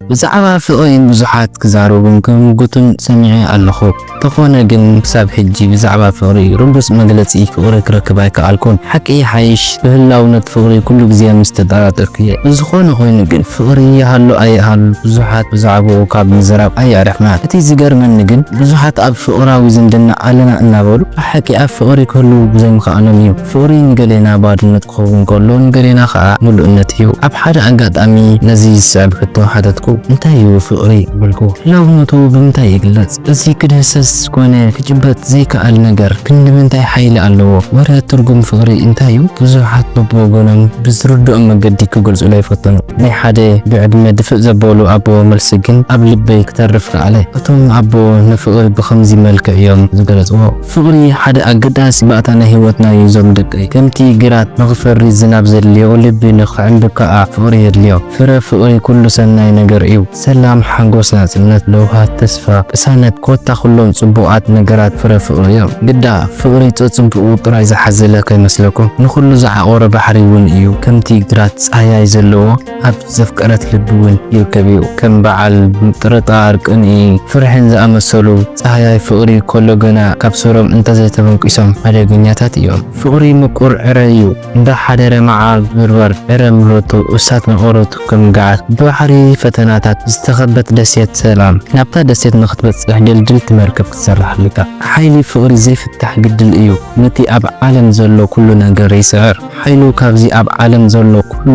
ብዛዕባ ፍቕሪ ብዙሓት ክዛረቡን ክምጉቱን ሰሚዐ ኣለኹ። ተኾነ ግን ክሳብ ሕጂ ብዛዕባ ፍቕሪ ርዱጽ መግለጺ ፍቕሪ ክረክብ ኣይከኣልኩን። ሓቂ ይሓይሽ ብህላውነት ፍቕሪ ኩሉ ግዜ ምስ ተጠራጠርኩ'የ። ዝኾነ ኮይኑ ግን ፍቕሪ ይሃሉ ኣይሃሉ ብዙሓት ብዛዕባኡ ካብ ምዝራብ ኣየዕረፍናን። እቲ ዝገርመኒ ግን ብዙሓት ኣብ ፍቕራዊ ዝምድና ኣለና እናበሉ ብሓቂ ኣብ ፍቕሪ ክህልዉ ዘይምኽኣሎም'ዩ። ፍቕሪ ንገሌና ባዶነት ክኸውን ከሎ ንገሌና ከኣ ምሉእነት እዩ። ኣብ ሓደ ኣጋጣሚ ነዚ ዝስዕብ ሕቶ ሓተትኩ፣ እንታይ እዩ ፍቕሪ? በልኩ። ህላውነቱ ብምንታይ ይግለጽ? እዚ ክድህሰስ ኮነ ክጭበጥ ዘይክኣል ነገር ክንድምንታይ ሓይሊ ኣለዎ? ወረ ትርጉም ፍቕሪ እንታይ እዩ? ብዙሓት በብወገኖም ብዝርድኦም መገዲ ክገልጹለይ ፈተኑ። ናይ ሓደ ብዕድመ ድፍእ ዘበሉ ኣቦ መልሲ ግን ኣብ ልበይ ክተርፍ ከኣለ። እቶም ኣቦ ንፍቕሪ ብኸምዚ መልክዕ እዮም ዝገለጽዎ። ፍቕሪ ሓደ ኣገዳሲ ባእታ ናይ ህይወትና ዩ ዞም ደቀይ። ከምቲ ግራት ንኽፈሪ ዝናብ ዘድልዮ ልቢ ንኽዕንብብ ከኣ ፍቕሪ የድልዮ። ፍረ ፍቕሪ ኩሉ ሰናይ ነገር ዩ። ሰላም ሓጎስ ናጽነት ለውሃት ተስፋ ቅሳነት ኮታ ኩሎም ጽቡቓት ነገራት ፍረ ፍቕሪ ዮም። ግዳ ፍቕሪ ጸጽቡቑ ጥራይ ዝሓዘለ ከይመስለኩም ንኹሉ ዝዓቖረ ባሕሪ ውን ዩ ከምቲ ግራት ጻህያይ ዘለዎ። ኣብ ዘፍቀረት ልቢ እውን ይርከብ እዩ። ከም በዓል ምጥርጣር፣ ቅንኢ፣ ፍርሕን ዝኣመሰሉ ጻህያይ ፍቕሪ ከሎ ግና ካብ ሱሮም እንተዘይተበንቂሶም ሓደገኛታት እዮም። ፍቕሪ ምቁር ዕረ እዩ። እንዳ ሓደረ መዓር ዝብርበር ዕረ ምረቱ እሳት መቐረቱ ከም ገዓት ብባሕሪ ፈተናታት ዝተኸበት ደሴት ሰላም ናብታ ደሴት ንኽትበጽሕ ድልድልቲ መርከብ ክትሰርሕ ኣልካ። ሓይሊ ፍቕሪ ዘይፍታሕ ግድል እዩ። ነቲ ኣብ ዓለም ዘሎ ኩሉ ነገር ይስዕር። ሓይሉ ካብዚ ኣብ ዓለም ዘሎ ኩሉ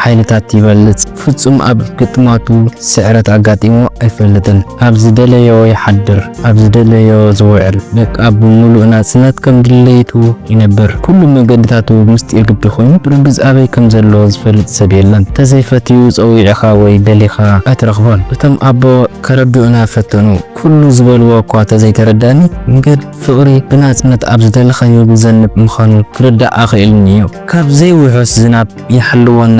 ሓይልታት ይበልጽ። ፍጹም ኣብ ግጥማቱ ስዕረት ኣጋጢምዎ ኣይፈልጥን። ኣብ ዝደለዮ ይሓድር፣ ኣብ ዝደለዮ ዝውዕል፣ በቃ ብምሉእ ናጽነት ከም ድሌቱ ይነብር። ኩሉ መገድታቱ ምስጢር ግዲ ኮይኑ፣ ብርግጽ ኣበይ ከም ዘሎ ዝፈልጥ ሰብ የለን። እንተዘይፈትዩ ጸዊዕኻ ወይ ደሊኻ ኣይትረኽቦን። እቶም ኣቦ ከረድኡና ፈተኑ። ኩሉ ዝበልዎ እኳ ተዘይተረዳኒ፣ ንገድ። ፍቕሪ ብናጽነት ኣብ ዝደለኻዮ ዝዘንብ ምዃኑ ክርዳእ ኣኽኢሉኒ'ዩ። ካብ ዘይውሑስ ዝናብ ይሓልወና።